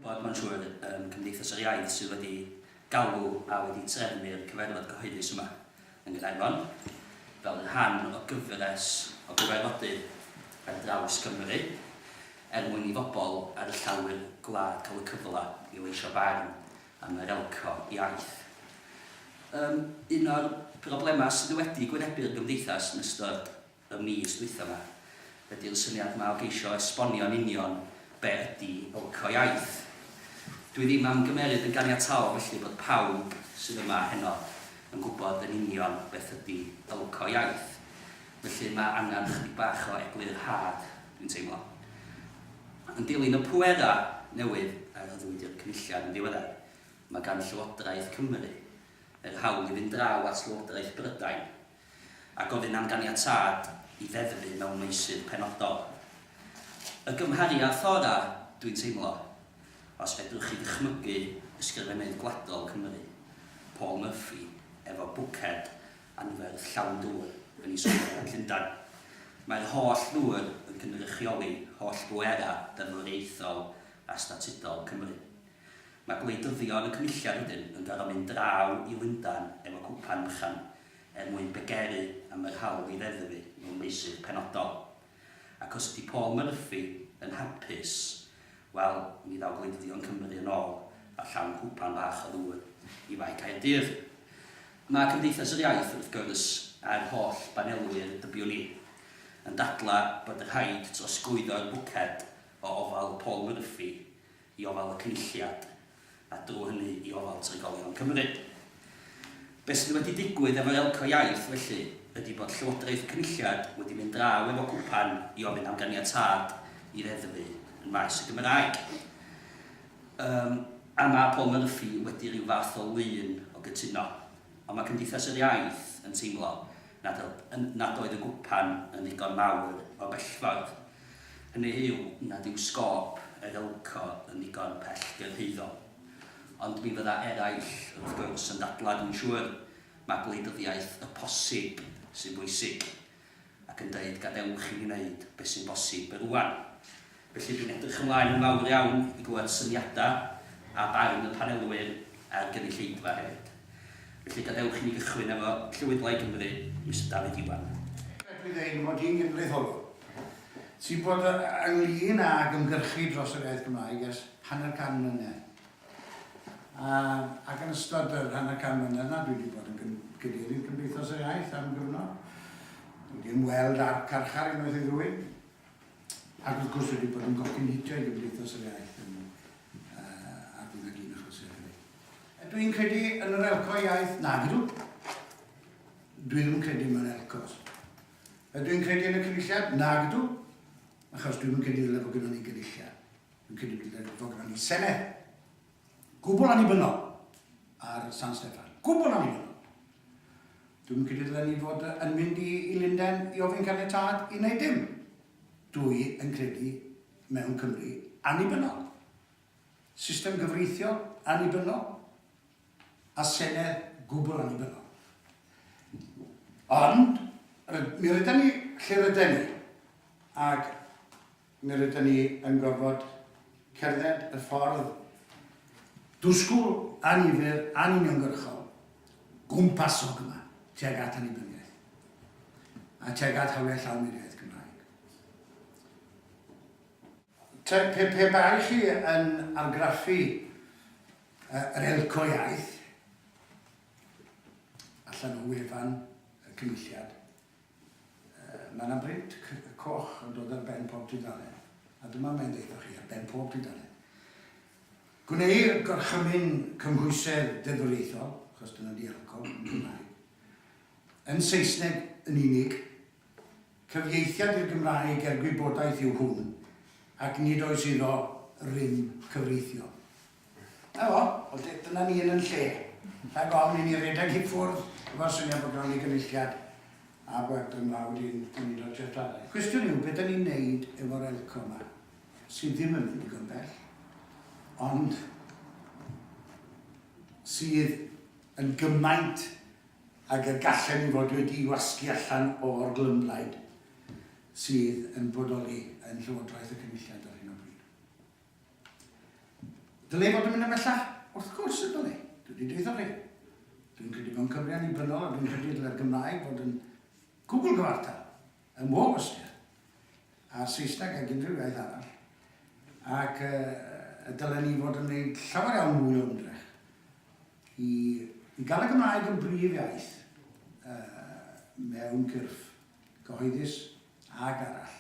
bod mae'n siŵr ym Cymdeithas yr Iaith sydd wedi galw a wedi trefnu'r cyfarfod cyhoeddus yma yng Nghaernarfon fel rhan o gyfres o gyfarfodydd ar draws Cymru er mwyn i bobl ar y llawr gwlad cael y cyfle i leisio barn am yr elco iaith. Yym, un o'r problemau sydd wedi gwynebu'r Gymdeithas yn ystod y mis dwytha ma. Ydy o'n syniad ma o geisio esbonio yn union be ydy Bylco Iaith? Dwi ddim am gymeryd yn ganiataol felly bod pawb sydd yma heno yn gwybod yn union beth ydy Bylco Iaith. Felly ma angan ychydig bach o eglurhad, dwi'n teimlo. Yn dilyn y pwera newydd a rhyddwyd i'r Cynulliad yn ddiweddar, ma gan Llywodraeth Cymru yr hawl i fynd draw at Lywodraeth Brydain a gofyn am ganiatâd i ddeddfu mewn meysydd penodol. Y gymhariaeth orau, dwi'n teimlo, os fedrwch chi ddychmygu ysgrifennydd gwladol Cymru, Paul Murphy, efo bwced anferth llawn dŵr yn ei sgwr yn Llundain. Mae'r holl ddŵr yn cynrychioli holl bwerau deddfwriaethol a statudol Cymru. Mae gwleidyddion y Cynulliad wedyn yn gorfod mynd draw i Lundain efo cwpan bychan er mwyn bygeri am yr hawl i ddeddfu mewn meysydd penodol. Ac os ydi Paul Murphy yn hapus, wel, mi ddaw gwleidyddion Cymru yn ôl â llawn cwpan bach o ddŵr i Fae Caerdydd. Mae Cymdeithas yr Iaith, wrth gwrs, a'r holl banelwyr dybiwn i, yn dadlau bod rhaid trosglwyddo'r bwced o ofal Paul Murphy i ofal y Cynulliad, a drwy hynny i ofal trigolion Cymru. Be sydd wedi digwydd efo Elco Iaith, felly, ydi bod Llywodraeth y Cynulliad wedi mynd draw efo cwpan i ofyn am ganiatâd i ddeddfu yn maes y Gymraeg. Yym, a ma' Paul Murphy wedi rhyw fath o lun o gytuno. Ond ma' Cymdeithas yr Iaith yn teimlo nad oedd, nad oedd y gwpan yn ddigon mawr o'r bellffordd. Hynny yw nad yw sgôp yr ILCO yn ddigon pellgyrhaeddol. Ond mi fydda eraill, wrth gwrs, yn dadlau, dwi'n siŵr, mai gwleidyddiaeth y posib sy'n bwysig, ac yn dweud gadewch i ni wneud beth sy'n bosib rŵan. Felly, dwi'n edrych ymlaen yn fawr iawn i glywed syniadau a barn y panelwyr a'r gynulleidfa hefyd. Felly gadewch i ni gychwyn efo Llywydlau Cymru, Mister Dafydd Iwan. Dwi ddweud mod i'n genedlaetholwr sy'n bod ynglŷn ag ymgyrchu dros yr iaith Gymraeg ers hanner can mlynedd. Ac yn ystod yr hanner can mlynedd 'na dwi wedi bod yn Gadeirydd Cymdeithas yr Iaith am gyfnod. Dwi wedi ymweld â'r carchar unwaith i ddwy. Ac wrth gwrs dwi wedi bod yn gocyn hitiau Gymdeithas yr Iaith yn A bydd y gyn achos hefyd. Ydw i'n credu yn yr elco iaith? Nag ydw. Dwi ddim yn credu mewn elcos. Ydw i'n credu yn y cynulliad? Nag ydw. Achos dwi'n yn credu ddyle fod gyda ni gynulliad. Dwi'n credu ddyle fod gyda ni Senedd. Gwbl annibynnol ar San Steffan. Gwbl annibynnol. Dwi'n credu ddyle ni fod yn mynd i, i Lunden i ofyn caniatad i wneud dim. Dw i yn credu mewn Cymru annibynnol, system gyfreithiol annibynnol a Senedd gwbl annibynnol. Ond mi rydan ni lle rydan ni ac mi rydan ni yn gorfod cerdded y ffordd dwsgl, annifyr, anuniongyrchol gwmpasog yma tuag at annibyniaeth a tuag at hawliau llawn i'r iaith Gymraeg. Te, pe, pe bai chi yn argraffu yr elco iaith allan o wefan y Cynulliad, Mae yna brint coch yn dod ar ben pob tudalen, a dyma mae'n deutha chi, ar ben pob tudalen, Gwneir gorchymyn cymhwysedd deddfwriaethol, achos dyna ydi alcohol yn Gymraeg, yn Saesneg yn unig. Cyfieithiad i'r Gymraeg er gwybodaeth yw hwn, ac nid oes iddo rym cyfreithiol. 'Na fo, wel dy- dyna ni yn 'yn lle. Rhag ofn i ni redeg i ffwrdd efo'r syniad bod ganddo ni Gynulliad a bod yn fawr i'n Cymdeithas Treftadaeth. Y cwestiwn yw, be dan ni'n wneud efo'r elco 'ma, sydd ddim yn mynd digon bell, ond sydd yn gymaint ag y gallen ni fod wedi'i wasgu allan o'r glymblaid sydd yn bodoli yn Llywodraeth y Cynulliad ar hyn o bryd. Dyle fod yn mynd ymhellach? Wrth gwrs y dyle. Dwi wedi deud wrthoch chi. Dwi'n credu mewn Cymru annibynnol a dwi'n credu y dylai'r Gymraeg fod yn gwbl gyfartal ym mhob ystyr â'r Saesneg ag unrhyw iaith arall ac y dylen ni fod yn gwneud llawer iawn mwy o ymdrech i i gael y Gymraeg yn brif iaith mewn cyrff cyhoeddus ag arall.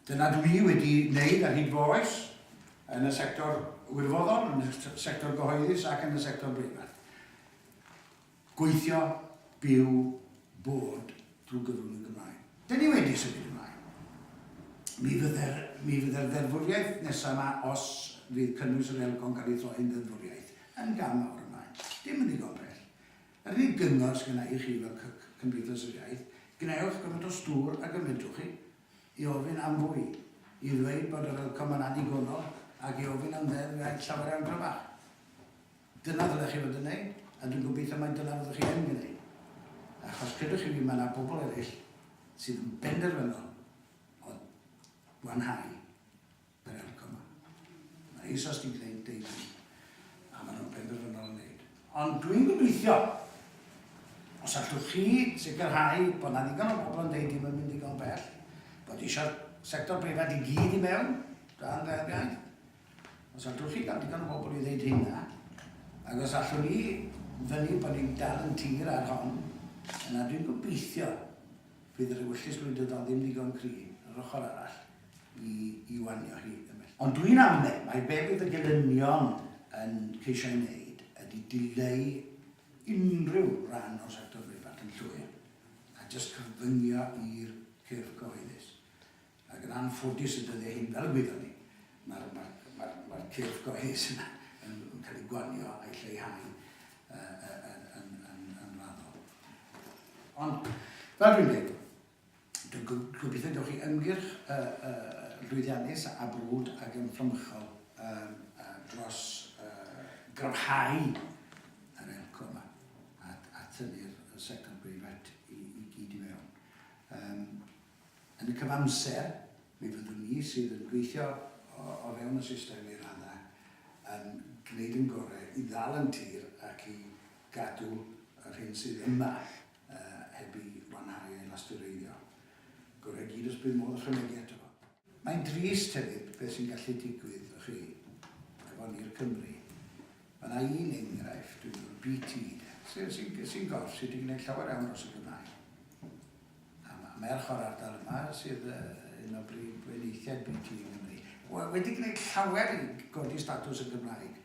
Dyna dw i wedi wneud ar hyd fy oes, yn y sector wirfoddol, yn y sector gyhoeddus ac yn y sector breifat. Gweithio, byw, bod drwy gyfrwng y Gymraeg. Dyn ni wedi symud ymlaen. Mi fydde'r, mi fydde'r ddeddfwriaeth nesaf yma, os fydd cynnwys yr Elco'n cael ei throi'n ddeddfwriaeth, yn gam mawr ymlaen. Dim yn ddigon bell. Yr unig gyngor sy gynna i chi fel Cymdeithas yr Iaith, gwnewch gymaint o stŵr ag y medrwch chi i ofyn am fwy, i ddweud bod yr outcome yn annigonol ac i ofyn am Ddeddf Iaith llawer iawn gryfach. Dyna ddylech chi fod yn wneud, a dwi'n gobeithio mai dyna fyddwch chi yn gwneud. Achos credwch chi fi, mae yna bobl eraill sydd yn benderfynol o wanhau Mae'n helpu. Mae'n neis os ti'n gwneud deud hynny. A maen nhw'n benderfynol yn neud. Ond dwi'n gobeithio, os allwch chi sicrhau bod na ddigon o bobl yn deud dim yn mynd digon bell, bod eisiau'r sector breifat i gyd i mewn, dan Ddeddf Iaith, os allwch chi gael digon o bobl i ddeud hynna, ac os allwn ni fynnu bod ni'n dal yn tir ar hon, yna dwi'n gobeithio fydd yr ewyllys gwleidyddol ddim ddigon cry, yr ochr arall. i wanio hi ymhellach. Ond dwi'n amled mai be' fydd y gelynion yn ceisio ei wneud ydy dileu unrhyw ran o'r sector breifat yn llwyr, a jyst cyfyngio i'r cyrff gyhoeddus. Ac yn anffodus y dyddiau hyn, fel y gwyddo ni, mae'r mae'r mae'r cyrff gyhoeddus yna yn yn cael ei gwanio a'i lleihau yn yn yn yn yn raddol. Ond fel dwi'n dweud, Dwi'n gobeithio y gewch chi ymgyrch llwyddiannus a brwd ac yn fframychol dros gryfhau yr elco yma a thynnu'r sector breifat i gyd i mewn. Yn y cyfamser, mi fyddwn ni sydd yn gweithio o fewn y system i raddau yn gwneud ein gorau i ddal yn tir ac i gadw yr hyn sydd yma a heb i wanhau ei lastureiddio. Gorau gyd os bydd modd ychwanegu ato fo. Mae'n drist hefyd beth sy'n gallu digwydd o chi efo ni'r Cymry. Mae yna un enghraifft, dwi'n meddwl BT de, sy'n sy'n sy'n gorff sydd wedi gwneud llawer iawn dros y Gymraeg. A mae merch o'r ardal yma sydd uh, un o brif weiniaethiau BT yng Nghymru. Wedi gwneud llawer i godi statws y Gymraeg.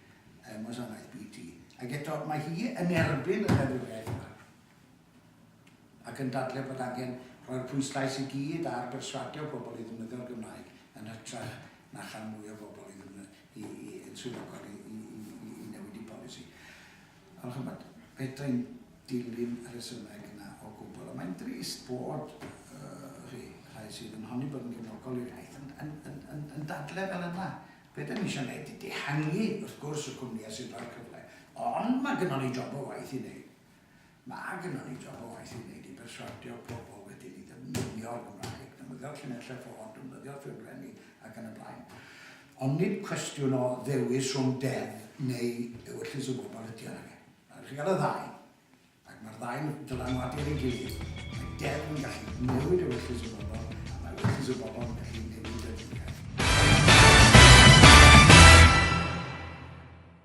ym Mwsanaeth BT. Ac eto, mae hi yn erbyn y ddeddfwriaeth yma ac yn dadlau bod angen rhoi'r pwyslais i gyd ar berswadio pobl i ddefnyddio'r Gymraeg yn hytrach na chael mwy o bobl i i, i, yn swyddogol i, i, i, i, i newid i polisi. Ond chymod, fedra i'n dilyn y rhesymau yna o gwbl. Ond mae'n drist bod uh, rhi, rhai sydd yn honni bod yn gefnogol i'r iaith yn, yn, yn, yn, yn dadle fel yna. Be dan ni eisiau wneud ydy dihangu, wrth gwrs, y cwmnïau sy'n rhoi'r cyfle, ond mae gynnon ni job o waith i wneud. Mae gynnon ni job o waith i wneud i berswadio pobl wedyn i ddefnyddio'r Gymraeg, defnyddio'r llinellau ffôn, defnyddio'r ffurflenni ac yn y blaen. Ond nid cwestiwn o ddewis rhwng deddf neu ewyllys y bobl ydy hon, ag e. Rhaid i chi gael y ddau. Ac mae'r ddau'n dylanwadu ar ei gilydd. Mae deddf yn gallu newid ewyllys y bobl, a mae ewyllys y bobl yn gallu newid y diwydiant.